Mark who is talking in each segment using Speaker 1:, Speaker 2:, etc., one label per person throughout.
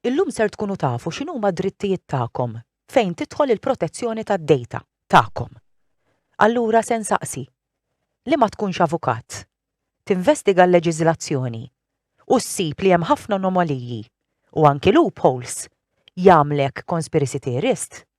Speaker 1: Illum ser tkunu tafu x'inhuma d-drittijiet tagħkom fejn tidħol il-protezzjoni tad-dejta tagħkom. Allura se nsaqsi, li ma tkunx avukat, tinvestiga l-leġiżlazzjoni u ssib li hemm ħafna anomaliji u anki loopholes jagħmlek conspiracy theorist?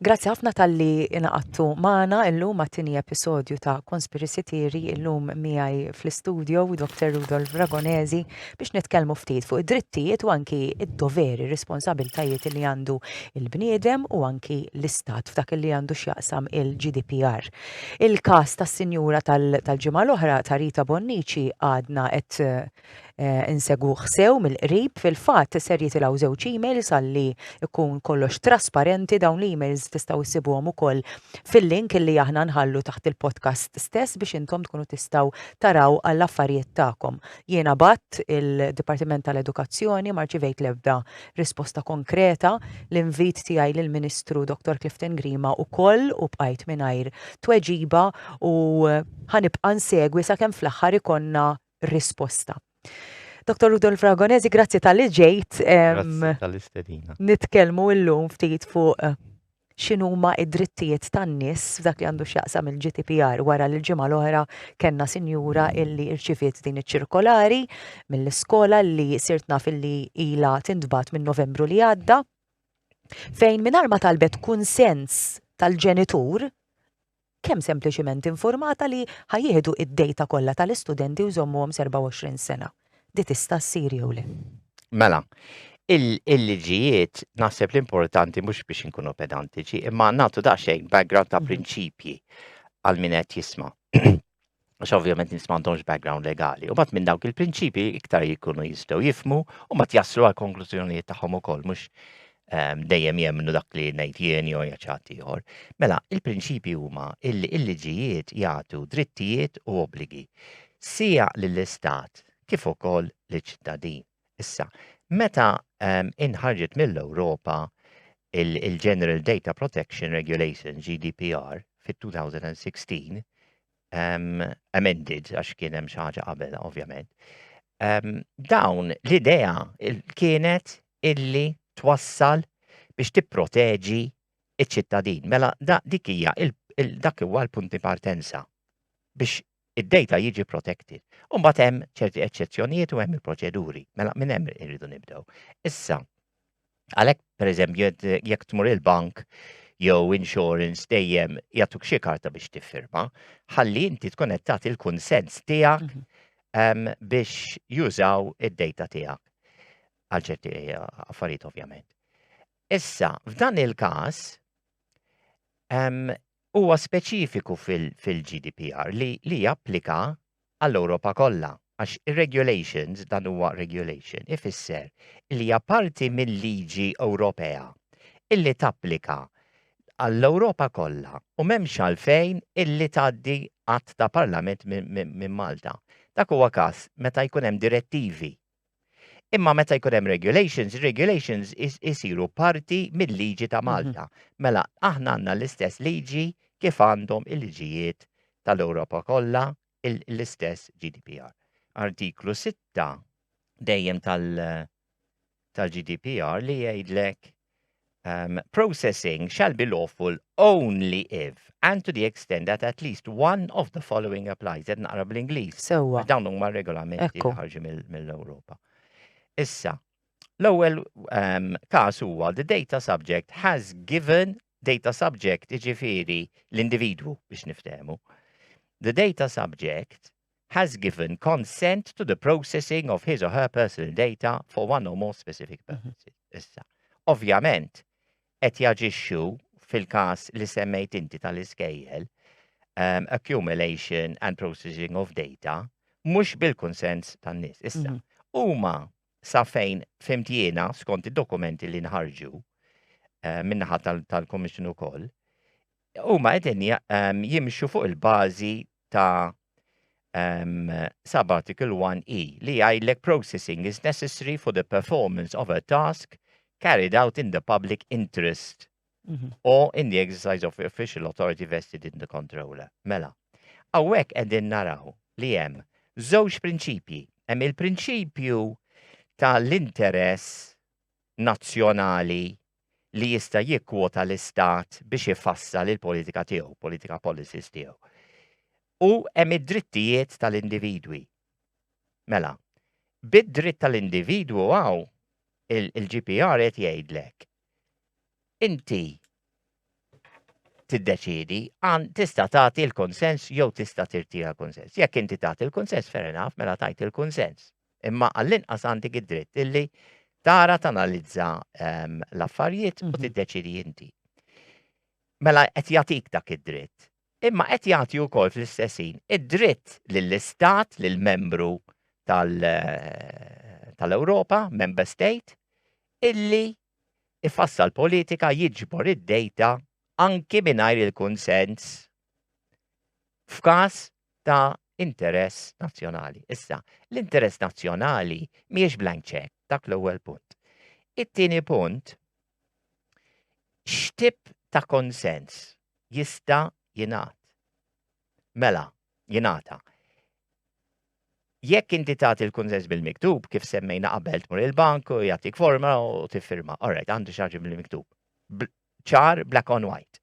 Speaker 1: Grazzi ħafna tal-li inaqattu maħna illum għattini episodju ta' Conspiracy Theory illum miħaj fl-studio Dr. Rudolf Ragonezi biex nitkelmu ftit fuq id-drittijiet u anki id-doveri, responsabiltajiet li għandu il-bniedem u anki l-istat f'dak li għandu xjaqsam il-GDPR. Il-kas tas-sinjura tal-ġimgħa l-oħra ta' Rita Bonnici għadna qed Eh, insegu ħsew mill-qrib fil-fatt ser jitilgħu żewġ emails għalli ikun kollox trasparenti dawn l-emails tistgħu issibuhom ukoll fil-link li aħna nħallu taħt il-podcast stess biex intom tkunu tistgħu taraw għall affarijiet tagħkom. Jiena bat il-Dipartiment tal-Edukazzjoni marċivejt l-ebda risposta konkreta l-invit tiegħi lill-Ministru Dr. Clifton Grima ukoll u bqajt mingħajr tweġiba u ħanibqa' nsegwi sakemm fl-aħħar ikonna risposta. Dr. Rudolf Ragonesi, grazzi tal-li ġejt. Grazzi
Speaker 2: tal-istedina. Nitkelmu illum
Speaker 1: ftit fuq eh, x'inhuma id-drittijiet tan-nies f'dak li għandu x'jaqsam il-GDPR wara li l-ġimgħa l-oħra kellna sinjura illi rċiviet din iċ-ċirkolari mill-iskola li sirt naf illi ila tintbat minn Novembru li għadda fejn mingħajr ma talbet kunsens tal-ġenitur kemm sempliċiment infurmata li ħa jieħdu id-dejta kollha tal-istudenti u jżommuhom s'24 sena. Di tista' ssir jew le? Mela,
Speaker 2: il-liġijiet naħseb l-importanti mhux biex inkunu pedantiċi, imma nagħtu daqsxejn background ta' prinċipji għal min qed jisma'. għax ovvjament nis m'għandhomx background legali. U bat minn dawk il-prinċipi iktar jikunu jistgħu jifmu u bat jaslu għal konklużjonijiet tagħhom ukoll mhux ehm, dejjem jemnu dak li ngħid jien jew jaċat ieħor. Mela, il-prinċipi huma illi il-liġijiet jagħtu drittijiet u obbligi sija lill-istat kif ukoll liċ-ċittadin. Issa, meta ehm, inħarġet mill-Ewropa il-General Data Protection Regulation, GDPR, fit-2016, ehm, amended, għax kien hemm xi ħaġa qabel, ovvjament, ehm, dawn l-idea kienet illi twassal biex tipproteġi iċ-ċittadin. Mela, dik hija dak huwa l-punti partenza biex id-data jiġi protected. U mbagħad hemm ċerti eċċezzjonijiet u hemm il-proċeduri. Mela minn hemm irridu nibdew. Issa, għalhekk pereżempju jekk tmur il-bank jew insurance dejjem jagħtuk xi karta biex tiffirma, ħalli inti tkun qed tagħti l-kunsens tiegħek mhm. ehm, biex jużaw id-data tiegħek. Għal ċerti eh, affarijiet ovvjament. Issa, f'dan il-każ, ehm, huwa speċifiku fil-GDPR li japplika għall-Ewropa kollha, għax ir-regulations, dan huwa regulation, ifisser li hija parti mil-liġi Ewropea illi tapplika għall-Ewropa kollha u m'hemmx għalfejn illi tgħaddi Att ta' Parlament minn Malta. Dak huwa każ meta jkun hemm direttivi Imma meta jkun hemm regulations, regulations isiru parti mill-liġi ta' mhm. Malta. Mela, aħna għandna l-istess liġi kif għandhom il-liġijiet tal-Ewropa kollha l-istess GDPR. Artiklu 6 dejjem tal-GDPR li jgħidlek um, processing shall be lawful only if and to the extent that at least one of the following applies. Ed naqra bl-Inglis. Sewa. Dawn huma
Speaker 1: regolamenti
Speaker 2: li ħarġu mill-Ewropa. Issa, l-ewwel um, każ huwa the data subject has given data subject iġifiri l-individwu biex niftehmu. The data subject has given consent to the processing of his or her personal data for one or more specific mhm. purposes. Issa, ovvjament, qed jaġixxu fil-każ li semmejt inti tal-iskejjel, um, accumulation and processing of data, mhux bil-konsens tan-nies. Issa, mhm. huma mm -hmm. sa fejn fimtiena skont id-dokumenti li nħarġu uh, minnaħa tal-Komissjoni tal ukoll, Huma qegħdin jimxu fuq il-bażi ta' um, Sabbatical 1E li jgħidlek processing is necessary for the performance of a task carried out in the public interest mm -hmm. or in the exercise of official authority vested in the controller. Mela, għawek edin naraw li jem żewġ prinċipji. Hemm il-prinċipju tal-interess nazzjonali li jista' jikkwota l-Istat biex ifassal il-politika tiegħu, politika policies tiegħu. U hemm id-drittijiet tal-individwi. Mela, bid-dritt tal-individwu hawn il-GPR qed jgħidlek inti tiddeċiedi, għan tista' tagħti l-konsens jew tista' tirtira konsens. Jekk inti tagħti l-konsens fair enough mela tajt il-konsens. Imma għall-inqas għandek id-dritt illi tara tanalizza ehm, l-affarijiet u mhm. tiddeċiedi inti. Mela qed jagħtik dak id-dritt. Imma qed jagħti wkoll fl-istessin id-dritt lill-istat, lill-membru eh, tal-Ewropa, member state, illi ifassal politika jiġbor id-dejta anki mingħajr il-kunsens f'każ ta' interess nazzjonali. Issa, l-interess nazzjonali mhijiex blank check, dak l-ewwel punt. It-tieni punt, x'tip ta' konsens jista' jingħad? Mela, jingħata. Jekk inti tagħti l-kunsens bil-miktub, kif semmejna qabel tmur il-bank u jagħtik forma u tiffirma. Alright, għandu xaġi bil-miktub. Ċar, black on white.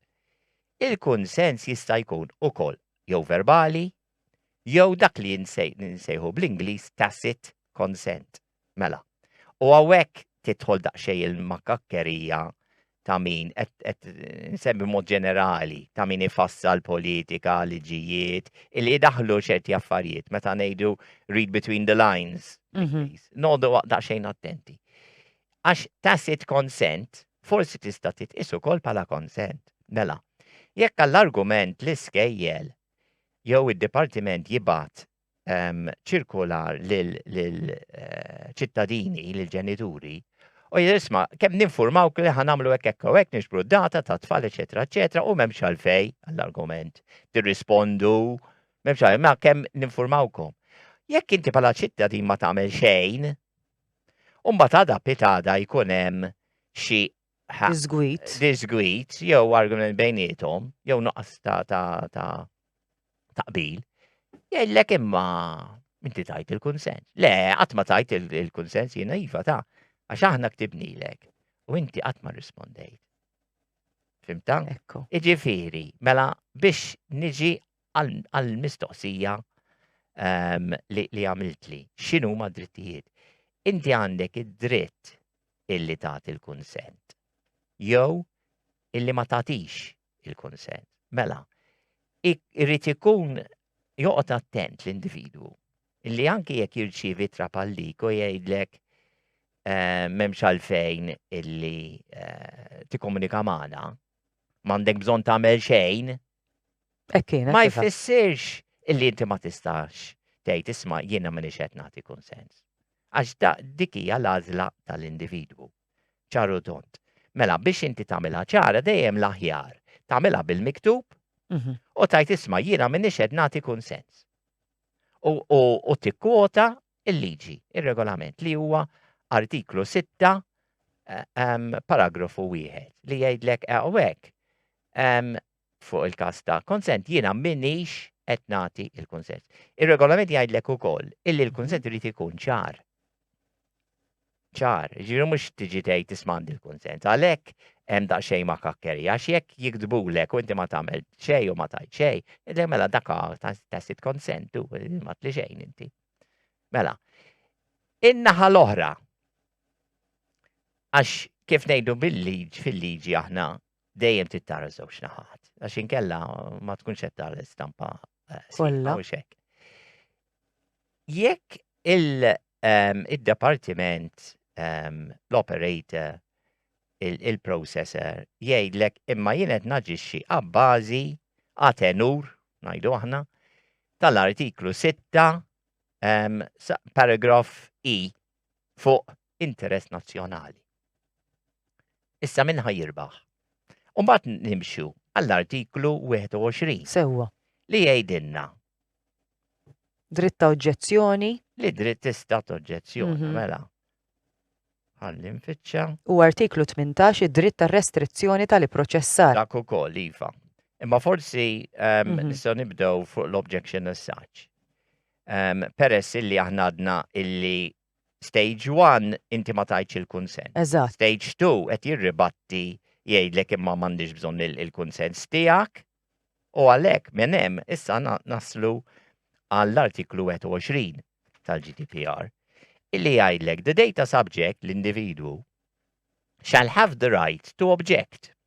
Speaker 2: Il-kunsens jista' jkun ukoll jew verbali, jew dak li nsejħu bl-Ingliż tacit consent. Mela. U hawnhekk tidħol daqsxejn il-makakkerija ta' min, qed nsemmi mod ġenerali, ta' min ifassal politika, liġijiet, illi daħlu ċerti affarijiet meta ngħidu read between the lines. Mhm. Nodu daqsxejn attenti. Għax tacit consent forsi tista' titqis ukoll bħala consent. Mela, jekk għall-argument l-iskejjel jew id-dipartiment jibat ċirkolar lill-ċittadini, lill-ġenituri, u jisma, kem ninformaw li ħan għamlu hekk hekk u hekk nixbru data ta' tfal, eċetera, eċetera, u m'hemmx għalfej għall-argument. Tirrispondu, m'hemmx għalfej, ma kemm ninformawkom. Jekk inti bħala ċittadin ma tagħmel xejn, u mbagħad għada pitada jkun hemm xi Disgwit. Disgwit, jew argument bejnietom, jew nuqqas ta' ta' taqbil. Jgħidlek imma inti tajt il-kunsens. Le, qatt ma tajt il-kunsens jiena iva ta' għax aħna ktibnilek u inti qatt ma rispondejt. Fimta? Ekku.
Speaker 1: Iġifieri, mela
Speaker 2: biex niġi għall-mistoqsija ehm, li għamiltli, x'inhuma drittijiet? Inti għandek id-dritt illi tagħti l-kunsent jew illi ma tagħtix il-kunsent. Mela, irrid ikun joqgħod attent l-individwu illi anki jekk jirċievi trapallik u jgħidlek eh, memx għalfejn illi eh, tikkomunika magħna, m'għandek bżonn tagħmel xejn, Ma jfissirx illi inti ma tistax tgħid isma' jiena m'iniex qed nagħti kunsens. Għax dik hija l-għażla tal-individwu. Ċaru tont. Mela biex inti tagħmilha ċara dejjem l-aħjar tagħmilha bil-miktub mhm. u tajt isma' jiena m'iniex qed nagħti kunsens. U tikkwota il-liġi, ir-regolament li huwa artiklu 6 eh, paragrafu wieħed li jgħidlek hawnhekk eh, fuq il-każ ta' konsent, jiena m'iniex qed nagħti l-kunsens. Ir-regolament jgħidlek ukoll illi l-kunsent irid ikun ċar. Ċar, ġifieri mhux tiġi tgħid tisma' għandi l-kunsent. Għalhekk hemm daqsxejn ma' kakkeri, għax jekk jiktbulek u inti ma tagħmel xejn u ma tgħid xejn, idlek mela dak tacit konsent u ma tli xejn inti. Mela, in-naħa l-oħra, għax kif ngħidu bil-liġi fil-liġi aħna, dejjem trid tara żewġ naħat, għax inkella ma tkunx qed tara l-istampa eh, kollha xek. Jekk ehm, il-departiment, ehm, l-operator, il-processor jgħidlek imma jien qed naġixxi abbażi għatenur, ngħidu aħna, tal-artiklu 6 ehm, paragraf I fuq interess nazzjonali. Issa minn ħajirbaħ. Umbat nimxu għall-artiklu 21. Sewwa. Li
Speaker 1: jgħidilna. Dritt ta' oġġezzjoni. Li dritt tista'
Speaker 2: oġġezzjoni, mhm. mela. Għalli nfittxa. U artiklu
Speaker 1: 18 id-dritt ta' restrizzjoni tal-proċessar. Dak ukoll iva.
Speaker 2: Imma forsi ehm, mhm. nistgħu
Speaker 1: nibdew fuq
Speaker 2: l-objection as such. Ehm, peress illi aħna għadna illi Stage one inti ma tajtx il-kunsens. Eżatt. Stage two
Speaker 1: qed
Speaker 2: jirribatti jgħidlek imma m'għandix bżonn il-kunsens tiegħek u għalhekk minn hemm issa naslu għall-Artiklu 21 tal-GDPR illi jgħidlek the data subject, l-individwu, shall have the right to object.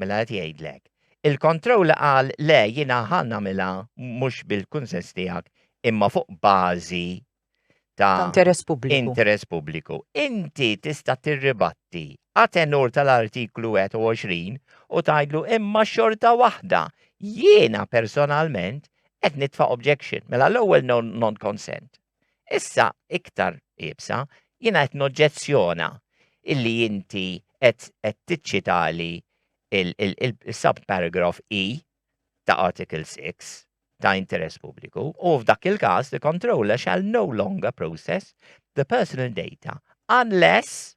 Speaker 2: Mela qed jgħidlek. Il-controller qal le jiena ħa nagħmilha mhux bil-kunsens tiegħek imma fuq bażi ta' interess pubbliku.
Speaker 1: Interess pubbliku.
Speaker 2: Inti tista' tirribatti għatenur tal-artiklu 21 u tgħidlu imma xorta waħda jiena personalment qed nitfa' objection. Mela l-ewwel non-consent. Issa, iktar iebsa, jiena qed noġġezzjona illi inti qed tiċċitali l-subparagraf i ta' Article 6 ta' interess pubbliku u f'dak il-każ the controller shall no longer process the personal data unless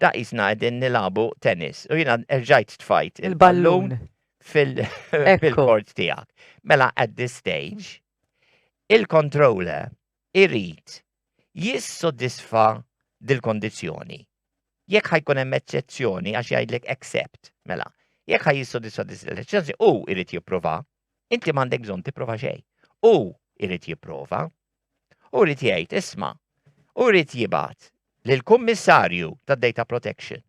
Speaker 2: Da jisna għedin nilabu tennis u jina erġajt tfajt il-ballun fil-kort tijak. Mela at this stage, il-controller irrit jissodisfa dil-kondizjoni. Jekk ħajkun hemm eċċezzjoni għax jgħidlek accept, mela, jekk ħaj jissodisfa dil-eċċezzjoni u irrit jipprova Inti m'għandek bżonn tipprova xejn. U irid jipprova. U irid jgħid, isma', u irid jibgħat lill-Kummissarju tad-Data Protection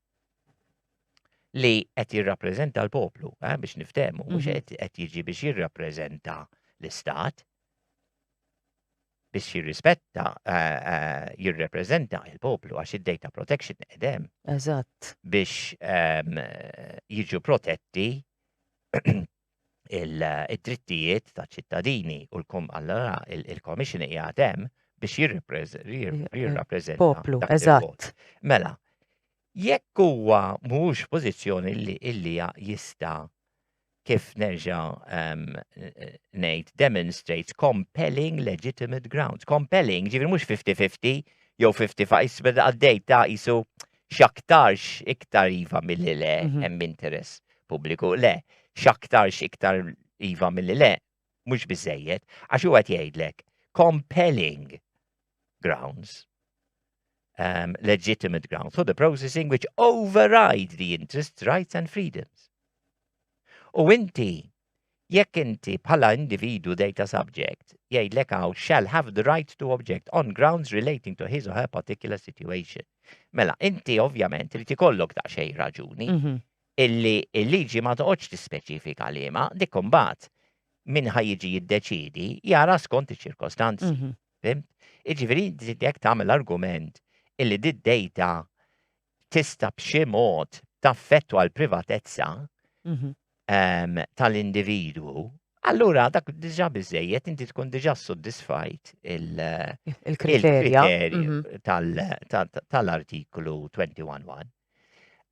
Speaker 2: li qed jirrappreżenta l-poplu, eh, biex niftehmu, mhux mhm. qed jiġi biex jirrappreżenta l-istat, biex jirrispetta, eh, eh, jirrepreżenta il-poplu għax id-data protection edem. Eżatt.
Speaker 1: Biex ehm,
Speaker 2: jiġu protetti il-drittijiet ta' ċittadini u l-kom allora il-Commission hija hemm biex jirrappreżenta poplu
Speaker 1: eżatt. Mela,
Speaker 2: jekk huwa mhux pożizzjoni li illi jista' kif nerġa' ehm, ngħid demonstrates compelling legitimate grounds. Compelling, ġifieri mhux 50-50 jew 55 beda għaddej ta' isu x'aktarx iktar iva milli le mhm. hemm interess pubbliku. Le, x'aktarx iktar iva milli le mhux biżejjed għax huwa qed jgħidlek compelling grounds um, legitimate grounds for the processing which override the interests, rights and freedoms. U inti Jekk inti bħala individwu data subject, jgħidlek hawn shall have the right to object on grounds relating to his or her particular situation. Mela, inti ovvjament li tikollok daqsxejn raġuni Mhm. illi il-liġi ma toqgħodx tispeċifika liema dik imbagħad min ħa jiġi jiddeċidi jara skont iċ-ċirkostanzi. Mhm. Fimt? Iġifieri inti jekk tagħmel argument illi di data tista' b'xi mod taffettwa l-privatezza mhm. ehm, tal-individwu, allura dak diġà biżejjed inti tkun diġà soddisfajt il-kriterja mhm. tal-artiklu 21.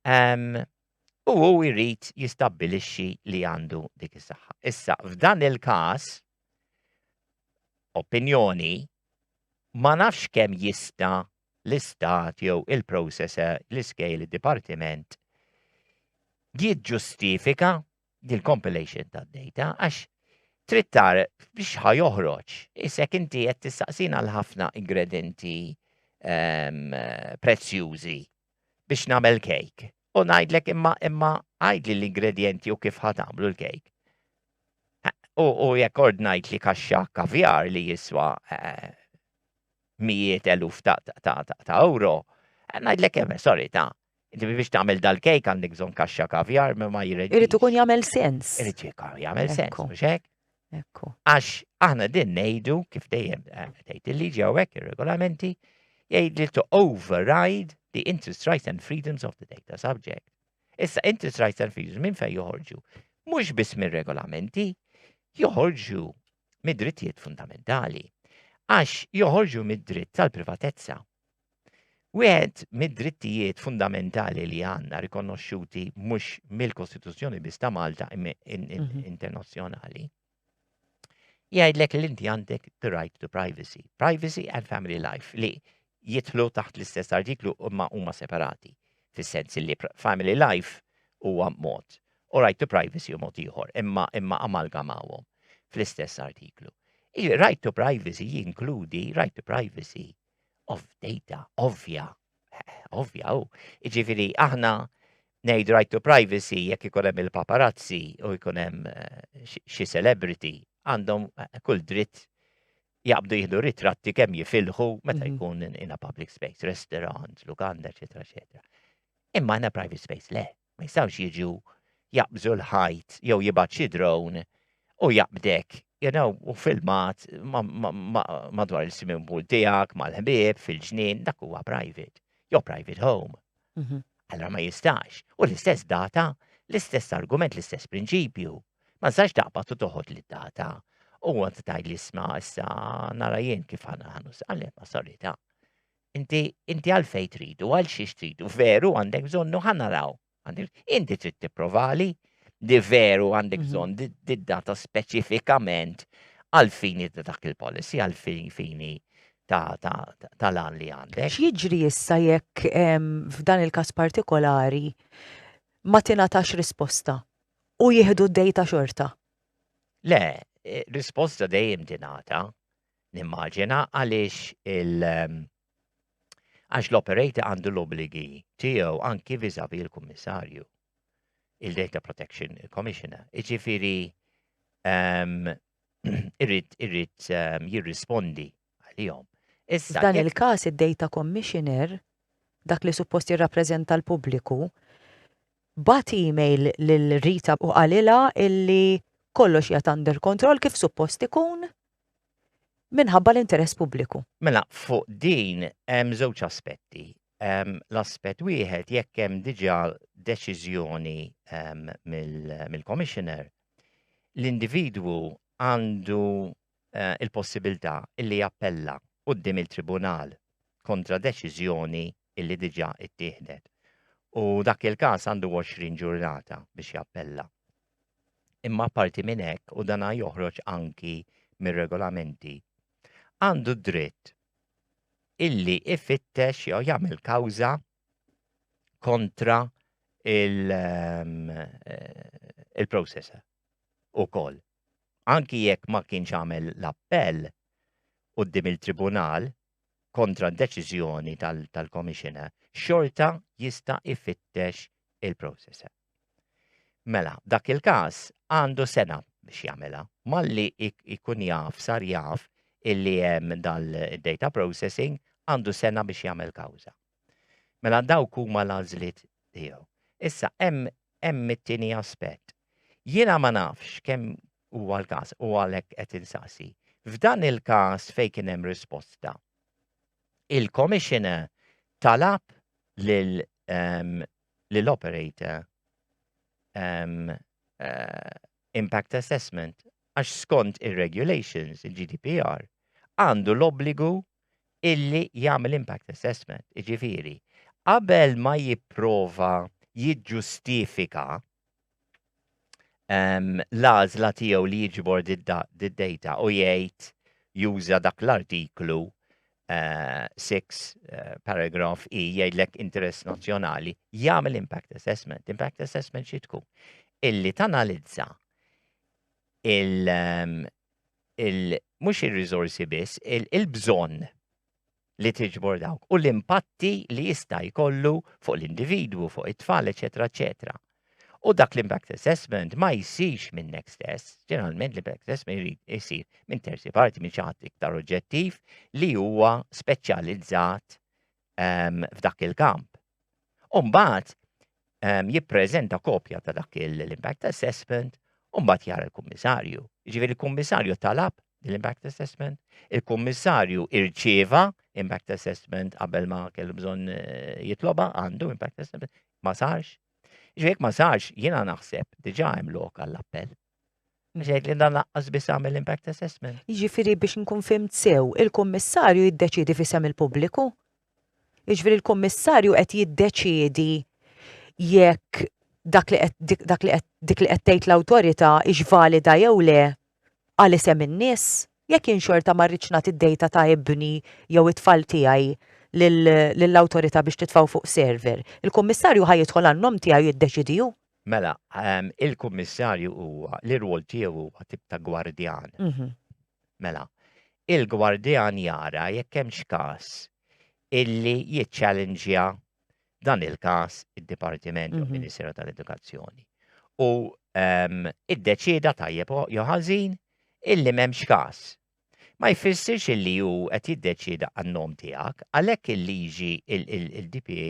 Speaker 2: Ehm, u hu jrid jistabbilixxi li għandu dik is-saħħa. Issa, f'dan il-każ, opinjoni, ma nafx kemm jista' l-Istat jew il-processor, l-iskejjel, id-dipartiment, jiġġustifika dil-compilation tad-data għax trid tara biex ħa joħroġ. Issa jekk inti qed tistaqsina għal ħafna ingredenti ehm, prezzjużi biex nagħmel kejk. U ngħidlek imma imma għajdli l-ingredjenti u kif ħa tagħmlu l-kejk. U jekk ordnajt li kaxxa kavjar li jiswa eh, mijiet eluf ta' ewro, ngħidlek kemm, sorry, ta' Inti biex tagħmel dal-kejk għandek bżonn kaxxa kavjar ma ma jirreġi. Irid ikun jagħmel sens.
Speaker 1: Irid jagħmel
Speaker 2: sens, mhux hekk?
Speaker 1: Ekku.
Speaker 2: Għax
Speaker 1: aħna
Speaker 2: din ngħidu kif dejjem eh, tgħid il-liġi hawnhekk ir-regolamenti jgħid li to override the interest rights and freedoms of the data subject. Issa interest rights and freedoms minn fejn joħorġu? Mhux biss mir-regolamenti, joħorġu mid-drittijiet fundamentali għax joħorġu mid-dritt tal-privatezza. Wieħed mid-drittijiet fundamentali li għandna rikonoxxuti mhux mill-Kostituzzjoni biss ta' Malta mhm. internazzjonali jgħidlek li inti għandek the right to privacy. Privacy and family life li jitlu taħt l-istess artiklu imma huma separati. fis-sens illi family life huwa mod u right to privacy hu mod ieħor, imma imma amalgamawhom fl-istess artiklu. Il-right to privacy jinkludi right to privacy of data, ovvja, ovvja u. Iġifieri aħna ngħid right to privacy jekk ikun hemm il-paparazzi u jkun hemm eh, xi celebrity għandhom eh, kull dritt jaqbdu jihdu ritratti kemm jifilħu meta mhm. jkun in a public space, restaurant, lukanda, eċetera, eċetera. Imma in a private space, le, ma jistawx jiġu jaqbżu l-ħajt jew jibgħat xi drone u jaqbdek, you know, u filmat madwar il-swimming pool tiegħek mal-ħbieb fil-ġnien, dak huwa private, jew private home. Allora ma jistax. U l-istess data, l-istess argument, l-istess prinċipju. Ma tistax taqbad u toħod li data. U għant tajt li sma issa nara jien kif għana għanu s-għalli ma solita. Inti, inti għalfej tridu, għal xiex tridu, veru għandek bżonnu ħanaraw. Inti trid tipprovali li veru għandek mhm. bżonn di data speċifikament għal fini dak il-policy, għal fini tal-għan li għandek. X'jiġri issa
Speaker 1: jekk f'dan il-każ partikolari ma tingħatax risposta u jieħdu d-dejta xorta? Le,
Speaker 2: e, risposta dejjem tingħata, nimmaġina għaliex il- għax l-operator għandu l-obligi tiegħu anki viżavi l-kummissarju, il-Data Protection Commissioner. Iġifieri irrid irrid ehm, jirrispondi għalihom. Issa dan
Speaker 1: il-każ id-data commissioner dak li suppost jirrappreżenta l-pubbliku bat email lil Rita u qalila illi kollox jgħat under control kif suppost ikun minħabba l-interess pubbliku. Mela, fuq
Speaker 2: din hemm żewġ aspetti. Ehm, l-aspett wieħed jekk hemm diġà deċiżjoni ehm, mill-commissioner l-individwu għandu eh, il-possibilità illi jappella quddiem il-tribunal kontra deċiżjoni illi diġà ittieħdet. U dak il-każ għandu 20 ġurnata biex jappella. Imma parti minn hekk u dana joħroġ anki mir-regolamenti. Għandu dritt illi ifittex jew jagħmel kawża kontra ehm, eh, il-processor u koll. Anki jekk ma kienx għamel l-appell u d il-tribunal kontra d-deċizjoni tal-komissjona, xorta jista' ifittex il-processor. Mela, dak il-każ għandu sena biex jagħmilha. Malli jkun jaf, sar jaf illi hemm dal-data processing għandu sena biex jagħmel kawża. Mela dawk huma l-għażliet tiegħu. Issa hemm hemm it-tieni aspett. Jiena ma nafx kemm huwa l-każ u għalhekk qed insaqsi. F'dan il-każ fejn kien hemm risposta, il-Commissioner talab lil um, li l-operator um, uh, impact assessment għax skont ir-regulations, il-GDPR, għandu l-obbligu illi jagħmel impact assessment, iġifiri, qabel ma jipprova jiġġustifika ehm, l-għażla tiegħu li jiġbor d-data u jgħid juża dak l-artiklu 6 eh, eh, paragraf i e, jgħidlek interess nazzjonali, jagħmel impact assessment. Impact assessment xi tkun? Illi tanalizza il- ehm, mhux ir-riżorsi biss, il-bżonn li tiġbor dawk u l-impatti li jista' jkollu fuq l-individwu, fuq it-tfal, eċetera, eċetera. U dak l-impact assessment ma jsirx minnek stess, ġeneralment l-impact assessment jrid isir minn terzi parti, minn ċaħat iktar oġġettiv li huwa speċjalizzat ehm, f'dak il-kamp. U mbagħad ehm, jippreżenta kopja ta' dak l-impact assessment u mbagħad jara l-kummissarju. Ġifieri l-kummissarju talab l-impact assessment, il-kummissarju irċieva impact assessment qabel ma kellu bżonn eh, jitloba għandu impact assessment ma sarx. Ġifieri ma sarx jiena naħseb diġà hemm lok għall-appell. Mżejt li dan laqqas biss għamel impact assessment. Jiġifieri biex nkun
Speaker 1: fimt sew, il-kummissarju jiddeċiedi fisem il-pubbliku. Jiġifieri l-kummissarju qed jiddeċiedi jekk dak li qed dak li qed dik li qed tgħid l-awtorità hix valida jew le għal isem in-nies. Jekk jien xorta ma rridx nagħti d-dejta ta' ibni jew it-tfal tiegħi lill-awtorità biex titfgħu fuq server, il-kummissarju ħa jidħol għan-nom tiegħi u jiddeċidi hu. Mela,
Speaker 2: ehm, il-kummissarju huwa, l-irwol tiegħu huwa tip ta' gwardjan. Mhm. Mela, il-gwardjan jara jekk hemmx każ illi jiċċallenġja dan il-każ id-Dipartiment jew Mhm. Ministeru tal-Edukazzjoni. U ehm, iddeċieda tajjeb o- jew ħażin illi m'hemmx każ. ma jfissirx illi hu qed jiddeċieda għan-nom tiegħek, għalhekk il-liġi il-DPA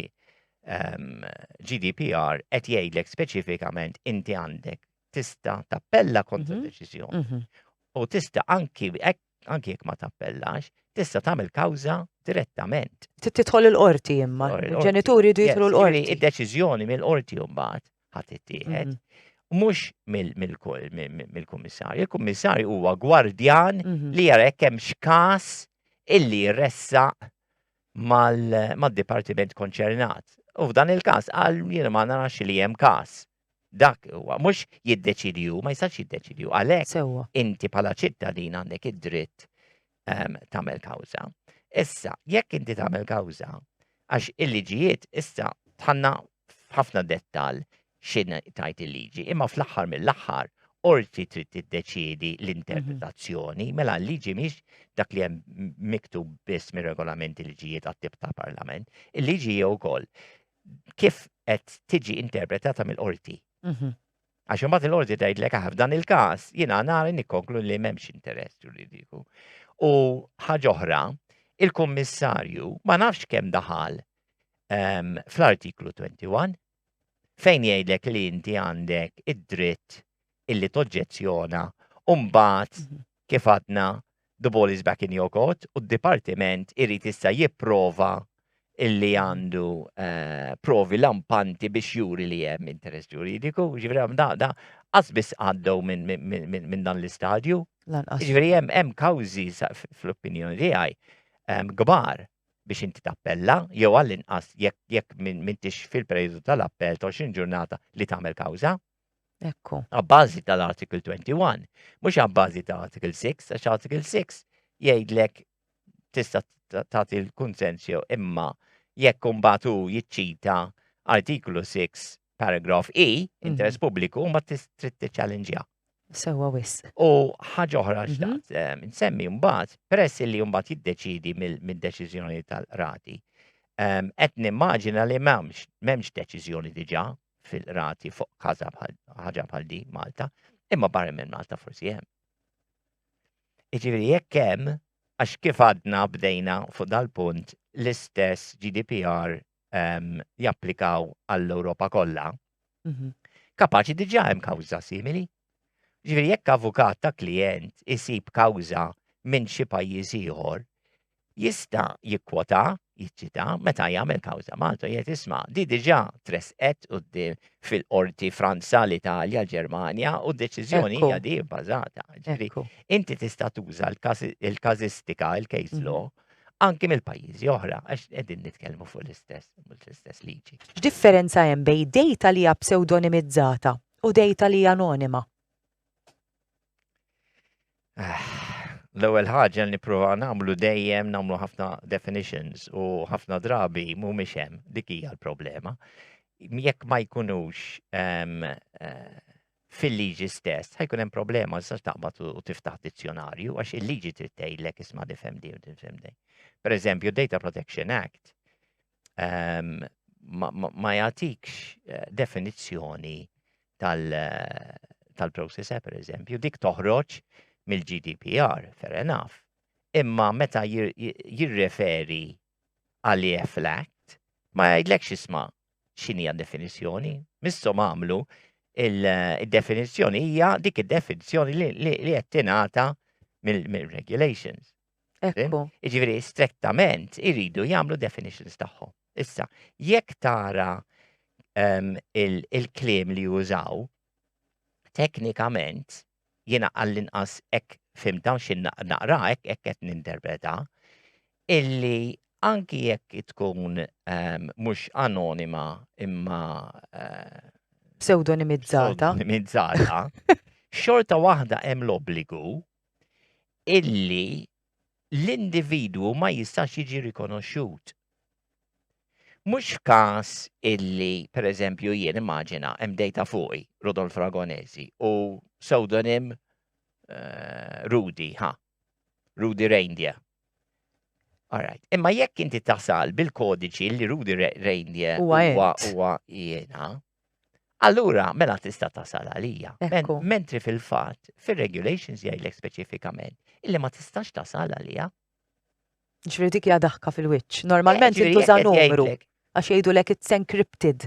Speaker 2: ehm, GDPR qed jgħidlek speċifikament inti għandek tista' tappella kontra mhm. deċiżjoni. Mhm. U tista' anki anki jekk ma tappellax, tista' tagħmel kawża direttament. Titħol il-qorti
Speaker 1: imma, il-ġenituri jidħlu l-qorti. Id-deċiżjoni mill-qorti
Speaker 2: mbagħad ħa tittieħed. Mhm. Mhux mill-kummissarju. Il-kummissarju huwa gwardjan mhm. li jara jekk hemm x'każ illi jressaq mal-dipartiment konċernat. U f'dan il-każ għal jien ma narax li hemm każ. Dak huwa mhux jiddeċidju, ma jistax jiddeċidju għalhekk. Inti bħala ċittadin għandek id-dritt ehm, tagħmel kawża. Issa, jekk inti tagħmel kawża, għax il-liġijiet issa tħanna ħafna dettal xin tajt il-liġi, imma fl-aħħar mill-aħħar orti trid tiddeċiedi l-interpretazzjoni, mhm. mela l-liġi miex dak li hemm miktub biss mir-regolamenti liġijiet għat-tip ta' parlament, il-liġi jew ukoll kif qed tiġi interpretata mill-qorti. Mhm. Għax imbagħad il-qorti tgħidlek aħ f'dan il-każ jiena nara nikkonklu li m'hemmx interess ġuridiku. U ħaġa oħra, il-kummissarju ma nafx kemm daħal ehm, fl-artiklu 21 fejn jgħidlek li inti għandek id-dritt illi toġġezzjona u mbagħad mhm. kif għadna, the ball is back in your court u d-Dipartiment irid issa jipprova illi għandu eh, provi lampanti biex juri li hemm interess ġuridiku, ġifri għam da, da, għazbis għaddew minn dan l-istadju. Ġifri hemm hemm kawżi fl-opinjoni tiegħi ehm, kbar biex inti tappella, jew għall-inqas jekk mintix fil-periodu tal-appell 20 ġurnata li tagħmel kawża. Ekku.
Speaker 1: Abbażi
Speaker 2: tal-Article 21, mhux abbażi ta' Article 6, għax Article 6 jgħidlek tista' tagħti l-kunsens jew imma jekk imbagħad hu jiċċita Artiklu 6 paragraf E, mhm. interess pubbliku, ma trid tiċċallenġja. Sewa wis.
Speaker 1: U ħaġa oħra
Speaker 2: mhm. xtaqt eh, nsemmi mbagħad peress li mbagħad jiddeċidi mid-deċiżjoni tal-rati. Ehm, qed nimmaġina li m'hemmx m'hemmx deċiżjoni diġà fil-qrati fuq kaza ħaġa bħal di Malta, imma barra minn Malta forsi hemm. Iġifieri jekk hemm għax kif għadna bdejna fuq dal-punt l-istess GDPR ehm, japplikaw għall-Ewropa kollha, mhm. kapaċi diġà hemm kawża simili. Ġifieri jekk avukat ta' klijent isib kawża minn xi pajjiż ieħor, jista' jikkwota, jiċċita meta jagħmel kawża Malta jgħid isma' di diġà tressqet quddiem fil-qorti Franza, l-Italja, l-Ġermanja u d-deċiżjoni hija di bbażata. Inti tista' tuża l-każistika, il-case mhm. law, anki mill-pajjiżi oħra, għax qegħdin nitkellmu fuq l-istess l-istess liġi. X'differenza hemm bej
Speaker 1: dejta li hija pseudonimizzata u dejta li anonima.
Speaker 2: Ah, l-ewwel ħaġa li nippruvaw nagħmlu dejjem nagħmlu ħafna definitions u ħafna drabi mhumiex hemm dik hija l-problema. Jekk ma jkunux ehm, eh, fil-liġi stess, ħajkun hemm problema sa taqbad u tiftaħ dizzjonarju għax il-liġi trid tgħidlek isma' difhem din u difhem din. Per eżempju, Data Protection Act ehm, ma jagħtikx eh, definizzjoni eh, tal-process tal per eżempju, dik toħroġ mill-GDPR, fair enough. Imma meta jirreferi għal EFLACT, ma jgħidlekx isma xinija definizjoni. Missom għamlu il-definizjoni eh, hija dik id-definizjoni li qed tingħata mill-regulations. Ekku.
Speaker 1: Ġifieri
Speaker 2: strettament iridu jagħmlu definitions tagħhom. Issa, jekk tara ehm, il-kliem li jużaw, teknikament jiena għall-inqas hekk fim dawn xi naqra hekk hekk qed ninterpreta illi anki jekk tkun ehm, mhux anonima imma eh,
Speaker 1: pseudonimizzata. Pseudonimizzata.
Speaker 2: Xorta waħda hemm l-obbligu illi l-individwu ma jistax jiġi rikonoxxut. Mhux f'każ illi, pereżempju, jien immaġina hemm dejta fuqi, Rudolf Ragonesi, u pseudonim eh, Rudy, ha, Rudy Reindeer. Alright. Imma jekk inti tasal bil-kodiċi li Rudy Reindeer huwa jiena, Allura, mela tista' tasal għalija. Mentri fil-fatt, fir-regulations jgħidlek speċifikament illi ma tistax tasal għalija.
Speaker 1: Ġifieri dik hija daħka fil-wiċċ. Eh, Normalment jintuża numru għax jgħidu lek it's encrypted.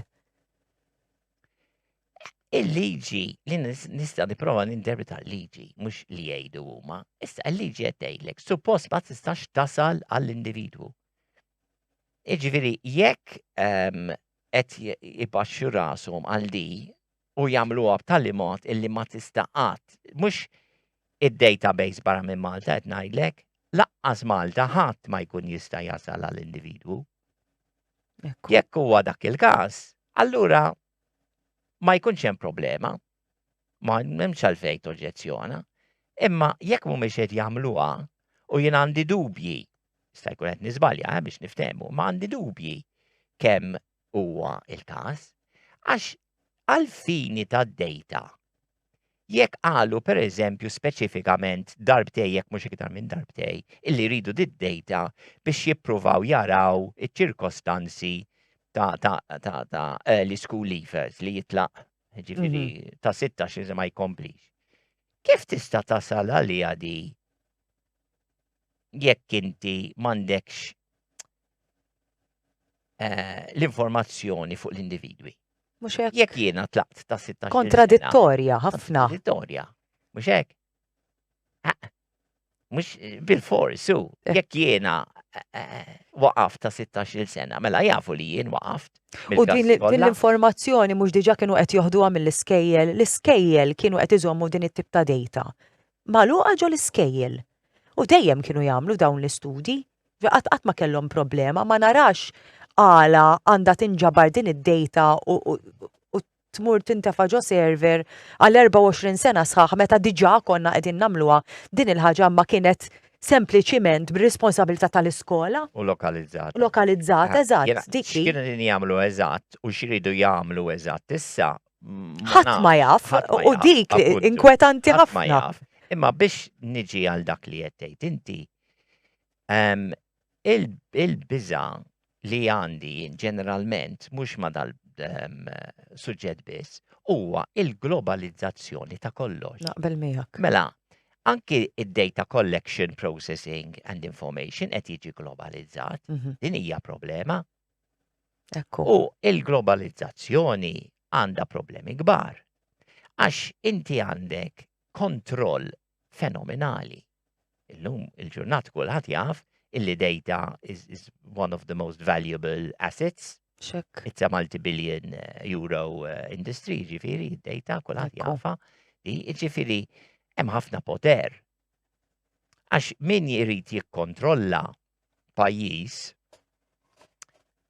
Speaker 2: Il-liġi li nista' nipprova ninterpreta l-liġi mhux li jgħidu huma, issa l-liġi qed tgħidlek suppost ma tistax tasal għall-individwu. Iġifieri jekk ehm, qed ipaxxu rashom għal di u jagħmluha b'tali mod illi ma tista' qatt mhux id-database barra minn Malta qed ngħidlek, laqqas Malta ħadd ma jkun jista' jasal għal individwu. Jekk huwa dak il-każ, allura ma jkunx hemm problema. Ma hemmx għalfejn toġġezzjona. Imma jekk mhumiex qed jagħmluha u jien għandi dubji, sta jkun qed niżbalja eh, biex niftehmu, ma għandi dubji kemm huwa il-każ, għax għal-fini tad-dejta jekk qalu per eżempju speċifikament darbtej jekk mhux iktar minn darbtej illi jridu did-dejta biex jippruvaw jaraw iċ-ċirkostanzi ta', ta, ta, ta eh, l-school leavers li jitlaq ġifiri mhm. ta' 16 iżda ma jkomplix. Kif tista' tasal għalija di jekk inti m'għandekx eh, l-informazzjoni fuq l-individwi? Mhux hekk. Jekk
Speaker 1: jiena tlaqt ta'
Speaker 2: 16 Kontradittorja
Speaker 1: ħafna. Kontradittorja.
Speaker 2: Mhux hekk. Mux bil-fors, su, eh. jekk jiena eh, eh, waqaf ta' 16 sena, mela jafu li jien waqaft. U din
Speaker 1: l-informazzjoni mhux diġa kienu qed joħduha mill-iskejjel, l-iskejjel kienu qed iżommu din it-tip ta' dejta. Maluqa ġo l-iskejjel. U dejjem kienu jagħmlu dawn l-istudji, qatt ma kellhom problema, ma narax għala għandha tinġabar din id-dejta u tmur tintefa' ġo server għal 24 sena sħaħ meta diġà konna qegħdin nagħmluha, din il-ħaġa ma kienet sempliċiment b'responsabilità tal-iskola. U lokalizzata.
Speaker 2: Lokalizzata, eżatt,
Speaker 1: dik hi. X'kienu qegħdin jagħmlu
Speaker 2: eżatt u x'iridu jagħmlu eżatt issa ma nafx. Ħadd ma
Speaker 1: jaf, u dik inkwetanti ħafna. Imma biex
Speaker 2: niġi għal dak li qed tgħid inti, Il-biża' li għandi jien ġeneralment, mhux ma' dal ehm, suġġett biss, huwa il-globalizzazzjoni ta' kollox. Naqbel miegħek. Mela, anki id-data collection, processing and information qed jiġi globalizzat, mhm. din hija problema. Ekku. U il-globalizzazzjoni għandha problemi kbar. Għax inti għandek kontroll fenomenali Illum il-ġurnat kulħadd jaf illi data is, is one of the most valuable assets. Check. It's a
Speaker 1: multi-billion
Speaker 2: uh, euro uh, industry, ġifiri, data kulħadd jafa. Ġifiri, hemm ħafna poter. Għax min jrid jikkontrolla pajjiż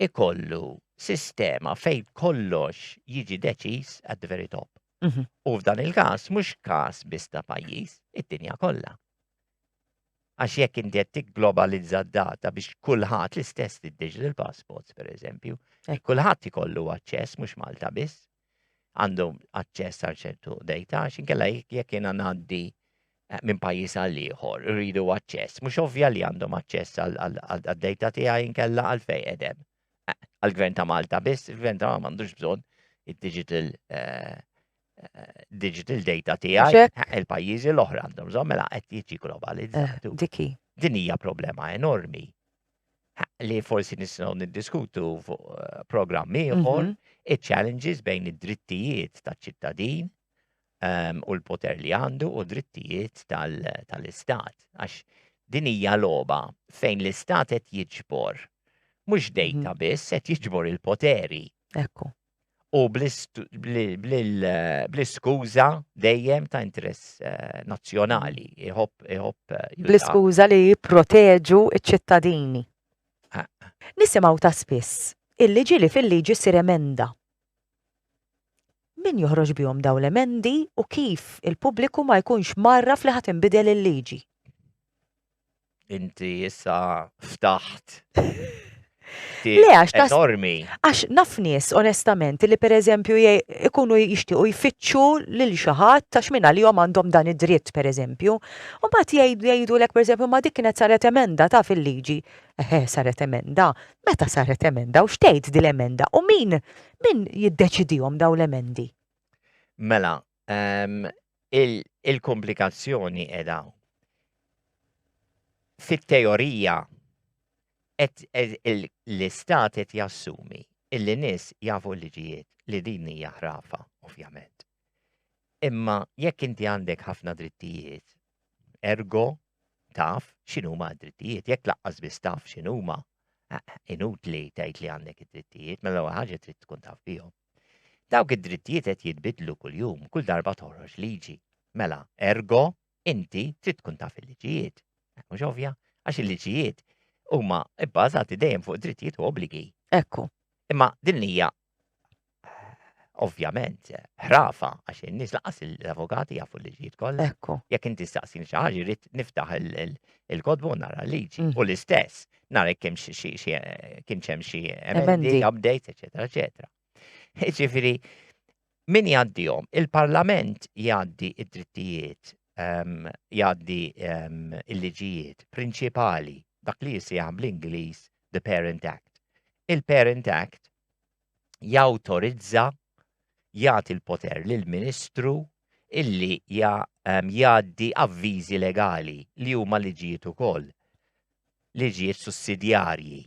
Speaker 2: ikollu sistema fejn kollox jiġi deċiż at the very top. Mhm. U f'dan il-każ mhux każ biss ta' pajjiż, id-dinja kollha. Għax jekk inti qed tigglobalizza d-data biex kulħadd l-istess digital passports pereżempju, kulħadd ikollu aċċess mhux Malta biss għandhom aċċess għal ċertu data għax inkella jekk jiena ngħaddi eh, minn pajjiż għal ieħor rridu aċċess, mhux ovvja li għandhom aċċess għal data tiegħi inkella għal fejn edem. għal-gvern ta' Malta biss, il-gvern ta' Malta m'għandux bżonn id-digital eh, eh, digital data tiegħi il-pajjiżi l-oħra għandhom bżonn mela qed jiġi globalizzat. Eh, diki. Din
Speaker 1: hija problema
Speaker 2: enormi li forsi nisnaw niddiskutu fuq programm ieħor mhm. iċ-challenges bejn id-drittijiet taċ-ċittadin u l-poter li għandu u drittijiet tal-istat. Għax din hija logħba fejn l-istat qed jiġbor mhux mhm. dejta biss qed jiġbor il-poteri. Ekku.
Speaker 1: U
Speaker 2: bl-iskuża dejjem ta' interess eh, nazzjonali iħobb iħobb.
Speaker 1: Eh, bl-iskuża li jipproteġu ċ-ċittadini. Nisimgħu ta' spiss il-liġi li fil-liġi sir emenda Min joħroġ bihom dawn l-emendi u kif il-pubbliku ma jkunx mgħarraf li ħa tinbidel il-liġi? Inti
Speaker 2: issa ftaħt.
Speaker 1: Le, għax tas. Enormi.
Speaker 2: Għax naf
Speaker 1: nies, onestament, li per eżempju ikunu jixtiequ jfittxu lil xi ħadd għax minn għalihom għandhom dan id-dritt, per eżempju. U mbagħad jgħidu lek, per eżempju, ma dik kienet saret emenda ta' fil-liġi. Eħe, saret emenda, Meta saret emenda u x'tgħid din l-emenda u min min jiddeċidihom dawn l-emendi? Mela,
Speaker 2: ehm, il-komplikazzjoni qiegħda fit-teorija l-istat qed jassumi illi nies jafu l-liġijiet li din hija ħrafa, ovvjament. Imma jekk inti għandek ħafna drittijiet Ergo, taf x'inhuma d-drittijiet, jekk laqqas biss taf x'inhuma, inutli tgħid li għandek id-drittijiet, mela l ħaġa trid tkun taf bihom. Dawk id-drittijiet qed jitbidlu kuljum, kull darba toħroġ liġi. Mela, ergo, inti trid tkun taf il-liġijiet. Eh, mhux ovvja, għax il-liġijiet huma bbażati dejjem fuq drittijiet u obbligi. Ekku.
Speaker 1: Imma din
Speaker 2: hija ovvjament, ħrafa, għax in-nies laqas l-avukati jafu li ġiet kollha. Ekku. Jekk inti staqsin
Speaker 1: xi
Speaker 2: ħaġa, jrid niftaħ il-kodbu nara liġi. Mm. U l-istess, nara kemm kien hemm xi emendi, updates, eċetera, eċetera. Ġifieri, min jgħaddihom? Il-Parlament jgħaddi id-drittijiet, ehm, jgħaddi ehm, il-liġijiet prinċipali, dak li jisih bl-Ingliż the Parent Act. Il-Parent Act jawtorizza jagħti l-poter lill ministru illi ehm, jgħaddi avviżi legali li huma liġijiet ukoll, liġijiet sussidjarji,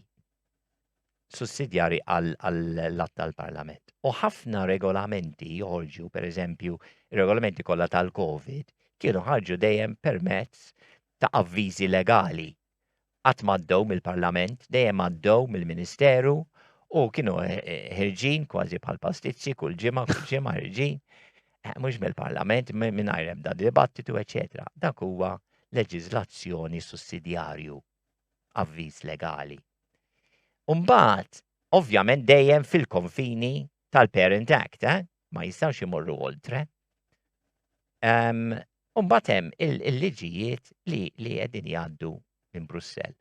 Speaker 2: sussidjarji għall-att tal-Parlament. U ħafna regolamenti joħorġu, per eżempju, regolamenti kollha tal-COVID, kienu ħarġu dejjem permezz ta' avviżi legali qatt m'għaddew mill-Parlament, dejjem għaddew mill-Ministeru u kienu ħirġin kważi bħal pastizzi kull ġimgħa, kull ġimgħa ħirġin, eh, mhux mill-Parlament, mingħajr ebda dibattitu, eċetera. Dak huwa leġiżlazzjoni sussidjarju, avviż legali. Umbagħad, ovvjament dejjem fil-konfini tal-Parent Act, eh? ma jistgħux imorru oltre. Um, Umbat hemm il-liġijiet li li qegħdin jgħaddu minn Brussell.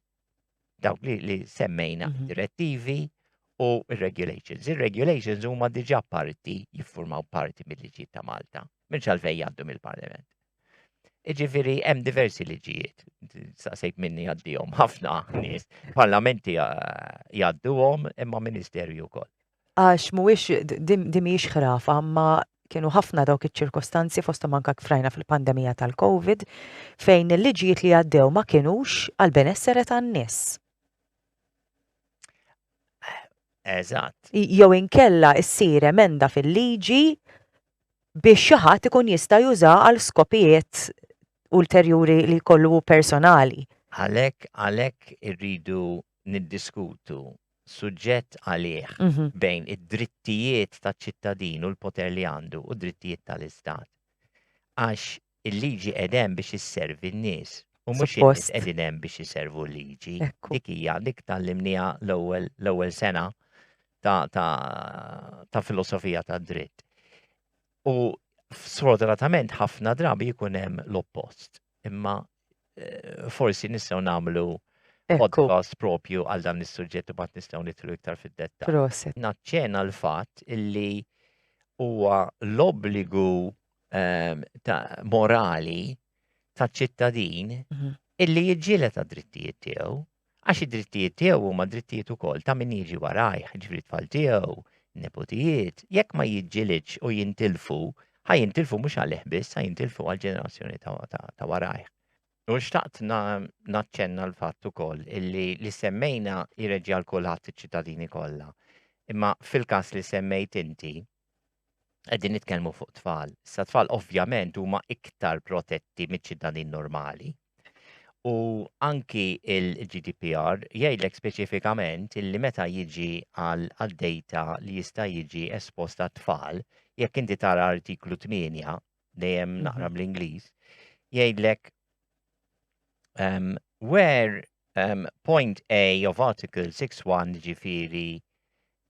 Speaker 2: Dawk li, li semmejna mm -hmm. direttivi u regulations. Ir-regulations huma diġà parti jiffurmaw parti mill-liġijiet ta' Malta, minn xalfej jgħaddu mill-Parlament. Iġifiri, hemm diversi liġijiet, saqsejt minni għaddihom ħafna nies, parlamenti eh, jgħadduhom imma ministerju wkoll. Għax mhuwiex
Speaker 1: di mhijiex ħrafa, ma kienu ħafna dawk iċ-ċirkostanzi fosthom anke kfrajna fil-pandemija tal-Covid fejn il-liġijiet li għaddew ma kienux għal benessere tan-nies.
Speaker 2: Eżatt. Jew
Speaker 1: inkella ssir emenda fil-liġi biex xi ħadd ikun jista' juża għal skopijiet ulterjuri li jkollu personali. Għalhekk għalhekk
Speaker 2: irridu niddiskutu suġġett għalih bejn id-drittijiet taċ-ċittadin u l-poter li għandu u d-drittijiet tal-Istat. Għax il-liġi qed hemm biex isservi n-nies u mhux in-nies qegħdin hemm biex iservu l-liġi. Dik hija dik tallimniha l-ewwel l-ewwel sena ta' ta' ta' filosofija tad-dritt. U sfortunatament ħafna drabi jkun hemm l-oppost. Imma eh, forsi nistgħu nagħmlu podcast propju għal dan is-suġġett u bat nistgħu nitlu iktar fid-detta. Proset.
Speaker 1: Naċċena
Speaker 2: l-fatt illi huwa l-obbligu ehm, ta' morali ta' ċittadin mhm. illi jiġġieled għad-drittijiet tiegħu Għax id-drittijiet tiegħu huma drittijiet ukoll ta' min jiġi warajh, ġifri tfal tiegħu, neputijiet, jekk ma jiġġilidx u jintilfu, ħa jintilfu mhux għalih biss, ħa jintilfu għall-ġenerazzjoni ta' warajh. U xtaqt naċċenna l-fatt ukoll illi li semmejna jirreġja l kulħadd iċ-ċittadini kollha. Imma fil-każ li semmejt inti, Qegħdin nitkellmu fuq tfal. Sa tfal ovvjament huma iktar protetti miċ-ċittadin normali. U anki il-GDPR jgħidlek speċifikament illi meta jiġi għal data li jista' jiġi esposta tfal, jekk inti tara artiklu 8 dejjem mhm. naqra bl-Ingliż, jgħidlek um, where um, point A of Article 6.1 ġifiri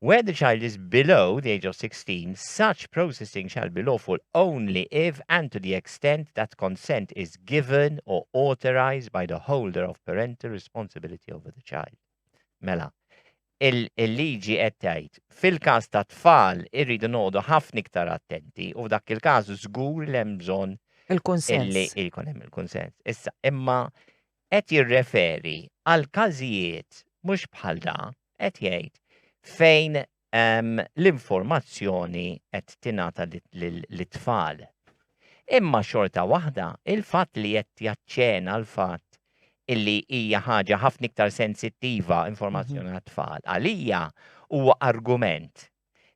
Speaker 2: Where the child is below the age of 16, such processing shall be lawful only if and to the extent that consent is given or authorized by the holder of parental responsibility over the child. Mela, il-liġi qed tgħid fil-każ ta' tfal irridu noqogħdu ħafna iktar attenti u f'dak il-każ żgur li hemm bżonn il-kunsens. Illi jkun hemm il-kunsens. Issa, imma qed jirreferi għal każijiet mhux bħal da, qed jgħid, fejn l-informazzjoni qed tingħata lit-tfal. Imma xorta waħda, il-fatt li qed jaċċena l-fatt illi hija ħaġa ħafna iktar sensittiva informazzjoni mhm. għat-tfal. Għalija huwa argument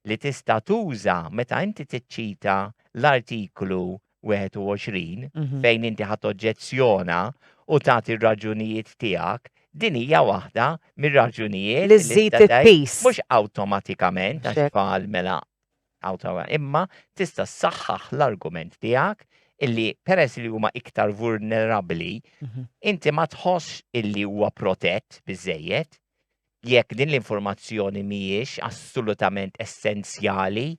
Speaker 2: li tista' tuża meta inti tiċċita l-Artiklu 21 fejn inti ħadd oġġezzjona u tagħti r-raġunijiet tiegħek, din hija waħda mir-raġunijiet li żżid il-pis.
Speaker 1: Mhux awtomatikament
Speaker 2: għax tfal mela imma tista' ssaħħaħ l-argument tiegħek illi peress li huma iktar vulnerabbli, mhm. inti ma tħoss illi huwa protett biżejjed, Jekk din l-informazzjoni mhijiex assolutament essenzjali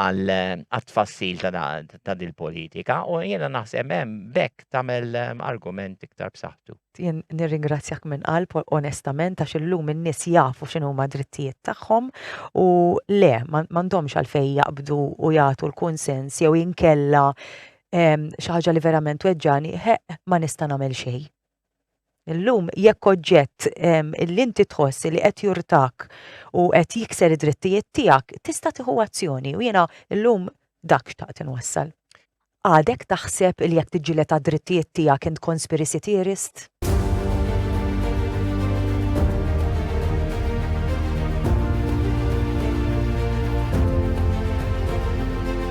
Speaker 2: għat-tfassil ta' dil-politika u jiena naħseb hemm b'hekk tagħmel argument iktar b'saħħtu. Jien nirringrazzjak
Speaker 1: minn qalb onestament għax illum in-nies jafu x'inhuma drittijiet tagħhom u le m'għandhomx għalfejn jaqbdu u jagħtu l-kunsens jew inkella xi ħaġa li verament tweġġagħni, ħeqq ma nista' nagħmel xejn. Illum jekk oġġett ehm, li inti tħoss li qed jurtak u qed jikser id-drittijiet tiegħek, tista' tieħu azzjoni u jiena llum dak xtaqt inwassal. Għadek taħseb li jekk tiġġieled għad-drittijiet tiegħek int conspiracy theorist?